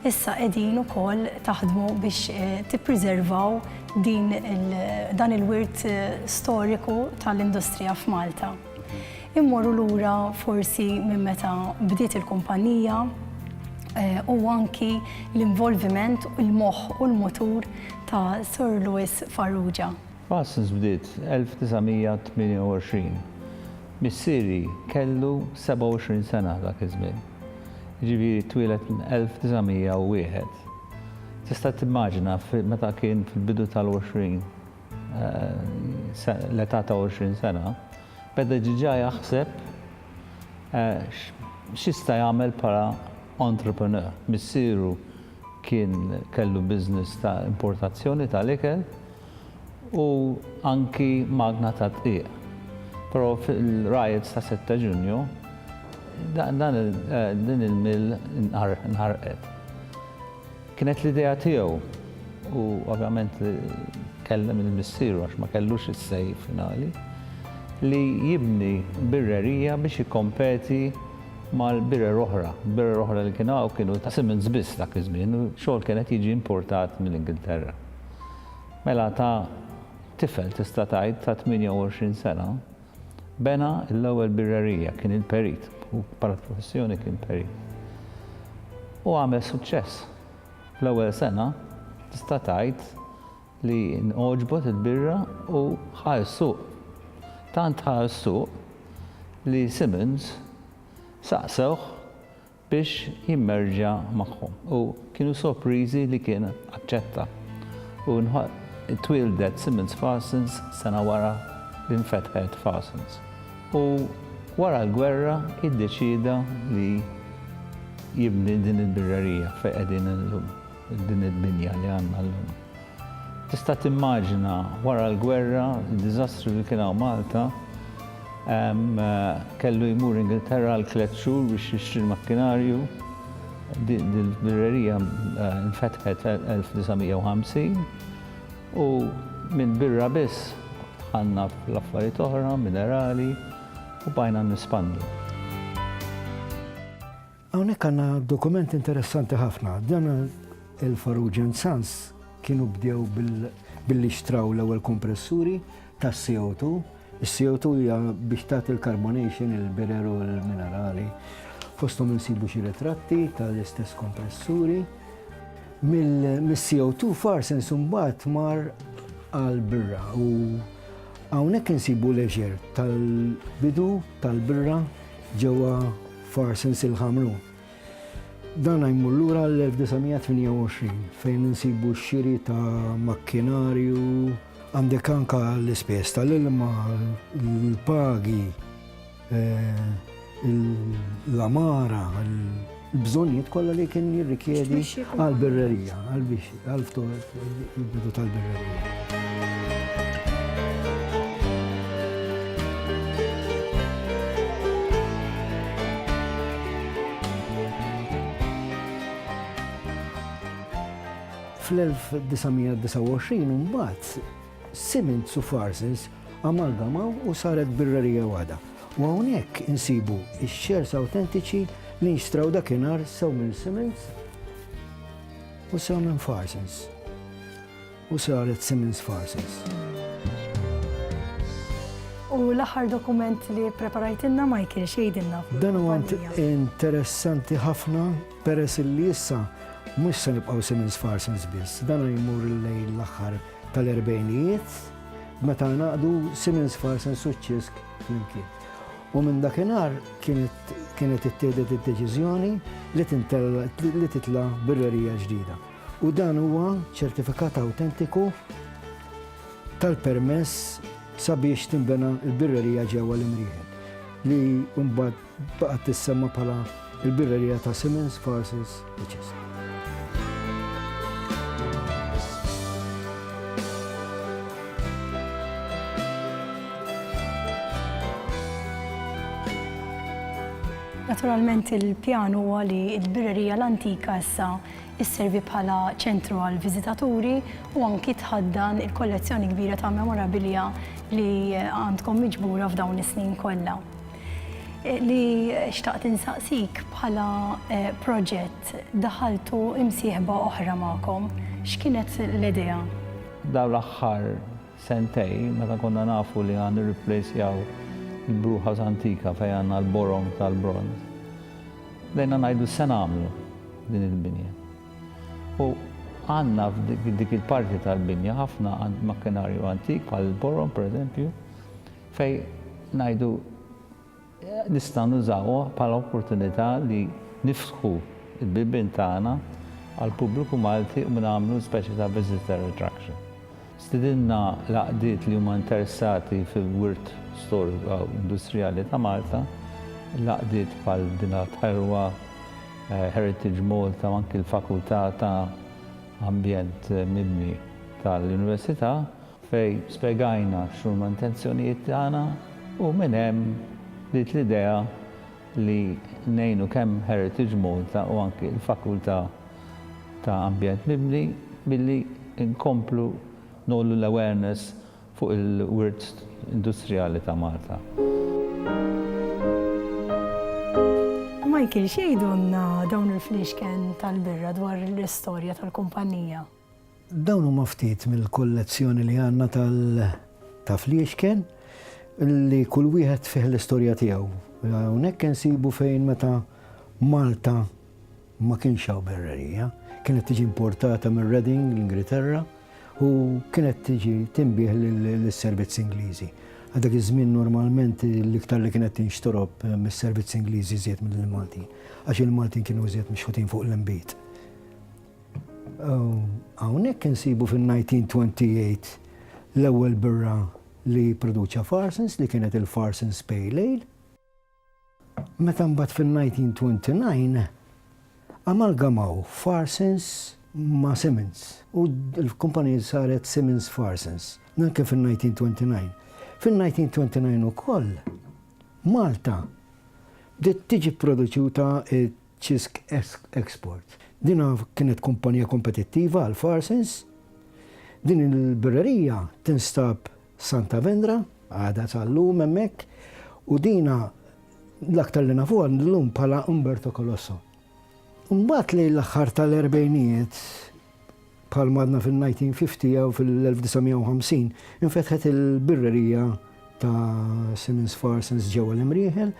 Issa qegħdin ukoll taħdmu biex tippriservaw din dan il-wirt storiku tal-industrija f'Malta. Immorru lura forsi minn meta bdiet il-kumpanija u anki l-involviment, il-moħħ u l-mutur ta' Sir Lewis Farrugia. Parsons bdiet 1928. Missieri kellu 27 sena dak iż-żmien. Jiġifieri twieled 1901. Tista' timmaġina meta kien fil-bidu tal-20 l-età ta' 20 sena, beda diġà jaħseb x'jista' jagħmel bħala entrepreneur. Missieru kien kellu business ta' importazzjoni tal-ikel. u anki magna tad-dqiq. Però fil-riots ta' 6 Ġunju din il-mill inħarqet. Kienet l-idea tiegħu u ovvjament kellem lil missieru għax ma kellux is-say finali li jibni birrerija biex jikkompeti mal-birer oħra. Il-birer oħra li kienu hawn kienu ta' Simmons biss dak iż-żmien, xogħol kien qed jiġi importat mill-Ingilterra. Mela ta' tifel tista' tgħid ta' 28 sena bena l-ewwel birrerija, kien il-perit, hu bħala professjoni kien perit. U għamel suċċess. Fl-ewwel sena tista' tgħid li ngħoġbot il-birra u ħa s-suq. Tant ħa s-suq li Simmons saqsewh biex jimmerġja magħhom u kienu sorpriżi li kien aċċetta u twieldet Simmons Farsons sena wara li nfetħet Farsons u wara l-gwerra iddeċieda li jibni din il-birrerija fejn qegħdin illum. Din id-dinja li għandna llum. Tista' timmaġina wara l-gwerra, d-diżastru li kien hawn Malta, kellu jmur Ingilterra għal tliet xhur biex jixtri l-makkinarju, din il-birrerija nfetħet 1950 u minn birra biss dħalna fl-affarijiet oħra, minerali u bqajna nespandu. Hawnhekk għandna dokument interessanti ħafna. Dan il-Farrugia and Sons kienu bdew billi xtraw l-ewwel kompressuri tas-CO2. Is-CO2 hija biex tagħti l-carbonation il-bireru l-minerali. Fosthom insibu xi ritratti tal-istess kompressuri. Mill-CO2 farsen sumbat mar għal-birra u hawnhekk insibu leisure tal-bidu tal-birra ġewwa Farsens il-Ħamru. Dan jmur lura għall-1928 fejn insibu x-xiri ta' makkinarju, Għandek anka l-ispejjeż tal-ilma, l-pagi, l-għamara, l-bżonnijiet kollha li kien jirrikjedi għall-birrerija, għall-bixxi. Għalftu il-bidu tal-birra. Fl-1929 imbagħad Simmons u Farces amalgamaw u saret birrerija waħda. U hawnhekk insibu x-shares awtentiċi li nxtraw dakinhar sew minn Simmons U sew minn Farsens. U saret Simmons Farsens. U l-aħħar dokument li preparajtinna Michael xejdinna. Dan huwa interessanti ħafna peress li issa mhux se nibqgħu Simmons Farsens biss. Dan jmur lejn l-aħħar tal-erbejnijiet meta naqdu Simmons Farsens u ċisk flimkien. U minn dakinhar kienet ittieħdet id-deċiżjoni li titla' birrerija ġdida. U dan huwa ċertifikat awtentiku tal-permess sabiex tinbena l-birrerija ġewwa l-Imrieħel li mbagħad baqgħet tissemma bħala l-birrerija ta' Simmons Farces. Naturalment il-pjan huwa li l-birrerija l-antika issa isservi bħala ċentru għal viżitaturi u anki tħaddan il-kollezzjoni kbira ta' memorabilia li għandkom miġbura f'dawn is-snin kollha. Li xtaqt insaqsik bħala eh, proġett daħaltu imsieħba oħra magħkom, x'kienet l-idea? Daw l-aħħar sentej, meta konna nafu li għan nirriplejsjaw il-bruħas antika fejn għandna l-borom tal-bronz, bdejna ngħidu se nagħmlu din il-binja. U għanna f'dik il-parti tal-binja ħafna makkinarju antik bħal il-borom pereżempju, Fejn ngħidu nistgħu nużawha bħala opportunità li niftħu l-bibien tagħna għall-pubbliku Malti u nagħmlu speċi ta' visitor attraction. Stidinna l-għaqdiet li huma interessati fil-wirt storiku u industrijali ta' Malta, l-għaqdiet bħal Binat Ħelwa, Heritage Malta u anki l-Fakultà ta' Ambjent Mibni tal-Università. fejn spjegajna x'huma intenzjonijiet tagħna u minn hemm bdiet l-idea li ngħinu kemm Heritage Malta u anki l-Fakultà ta' Ambjent Mibni billi nkomplu ngħollu l-awareness fuq il-wirt industrijali ta' Malta. Michael, x'jgħidulna dawn il-fliexken tal-birra dwar l-istorja tal-kumpannija? Dawn huma ftit mill-kollezzjoni li għandna tal ta' fliexken li kull wieħed fih l-istorja tiegħu. Hawnhekk insibu fejn meta Malta ma kienx hawn berrerija, kienet tiġi importata minn Reading, l-Ingilterra, u kienet tiġi tinbih lis-servizz Ingliżi. Għal dak iż-żmien normalment l-iktar li kienet tinxtorob mis-servizz Ingliżi żied mill-Maltin, għax il-Maltin kienu żied mixħutin fuq l-inbid. Hawnhekk insibu fin-1928 l-ewwel birra li pproduċa Farsons li kienet il-Farsons Pale Ale. Meta mbagħad fin-1929 amalgamaw Farsons ma' Simmons u l-kumpanija saret Simmons Farsons, dan kien fin-1929. Fin-1929 ukoll Malta bdiet tiġi pproduċuta Cisc Export. Din kienet kumpanija kompetittiva għal Farsens. Din il-birrerija tinstab Santa Vendra, għadha sal-lum hemmhekk, u din l-aktar li nafuha llum bħala Umberto Colosso. Imbagħad lejn l-aħħar tal-erbgħinijiet, Bħalma għadna fin-1950 jew fil-1950, infetħet il-birrerija ta' Simons Farsons ġewwa l-Imrieħel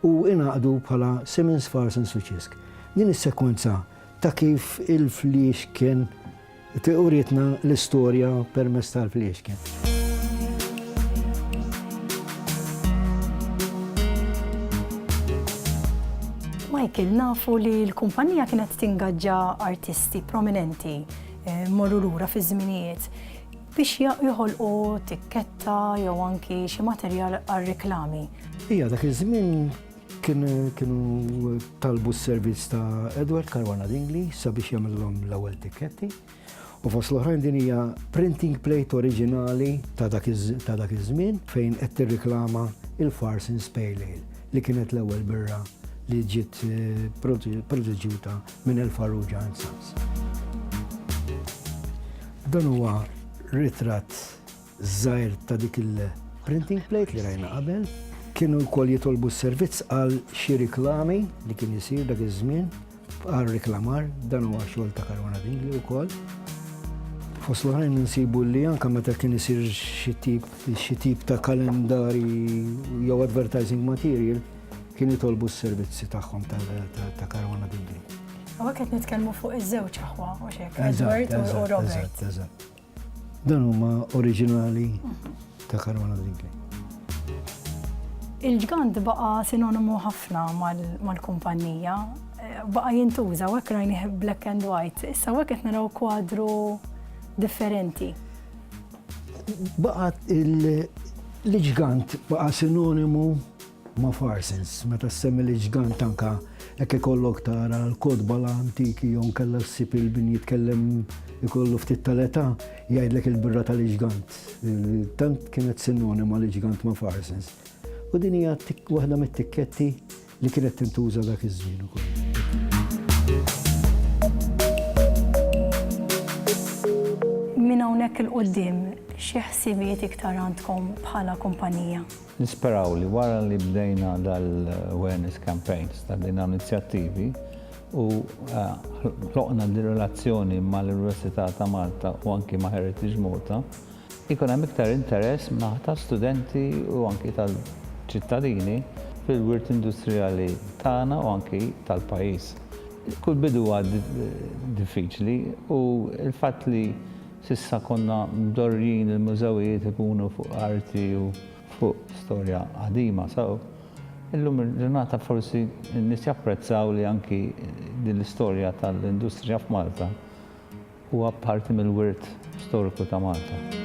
u ingħaqdu bħala Simons Farsons u Cisg. Din is-sekwenza ta' kif il-fliexken urietna l-istorja permezz tal-fliexken. Michael, nafu li l-kumpanija kienet tingaġġa artisti. artisti prominenti eh, morru lura fi żminijiet biex joħolqu tikketta jew anki xi materjal għal reklami. Ija dak iż-żmien kienu talbu s-servizz ta' Edward Caruana Dingli sabiex jagħmilhom l-ewwel tikketti. U fost l-oħrajn din hija printing plate oriġinali ta' dak iż-żmien fejn qed tirriklama il-Fars in Spale li kienet l-ewwel birra li ġiet eh, produġuta minn El Farrugia and Sons. Dan huwa ritratt żgħir ta' dik il-printing plate li rajna qabel. Kienu wkoll jitolbu s-servizz għal xi riklami li kien isir dak iż-żmien għal reklamar dan huwa xogħol ta' Karwana Dingli wkoll. Fost l-oħrajn nsibu li anka meta kien isir xi tip ta' kalendari jew advertising material Kien jitolbu s-servizzi tagħhom ta' karwana bibli. Għawek qed nitkellmu fuq iż-żewġ aħwa, u xek, Edward u Robert. Eżatt, Dan huma oriġinali mhm. ta' karwana bibli. Il-ġgant baqa sinonimu ħafna mal-kumpanija, eh, baqa jintuża, u hekk rajni black and white, issa hekk qed naraw kwadru differenti. Baqa il-ġgant baqa sinonimu ma' Farsens, meta ssemmi l-iġgant anke hekk ikollok tara l-kotba l-antiki jew inkella ssib il-bin jitkellem ikollu ftit tal-età jgħidlek il-birra tal-iġgant. Tant kienet sinonima l-iġgant ma' Farsens. U din hija waħda mit-tikketti li kienet tintuża dak iż-żmien ukoll. Minn hawnhekk il-quddiem xi ħsibijiet iktar għandkom bħala kumpanija? Nisperaw li wara li bdejna dal-awareness campaigns, ta' din hawn inizjattivi u ħloqna din relazzjoni mal-Università ta' Malta u anki ma' Heritage Malta, ikun hemm iktar interess min-naħa ta' studenti u anki tal-ċittadini fil-wirt industrijali tagħna u anki tal-pajjiż. Kull bidu huwa diffiċli u l-fatt li S'issa konna mdorrijin il-mużewijiet ikunu fuq arti u fuq storja qadima sew. Illum il-ġurnata forsi n-nies japprezzaw li anki din l-istorja tal-industrija f'Malta huwa parti mill-wirt storiku ta' Malta.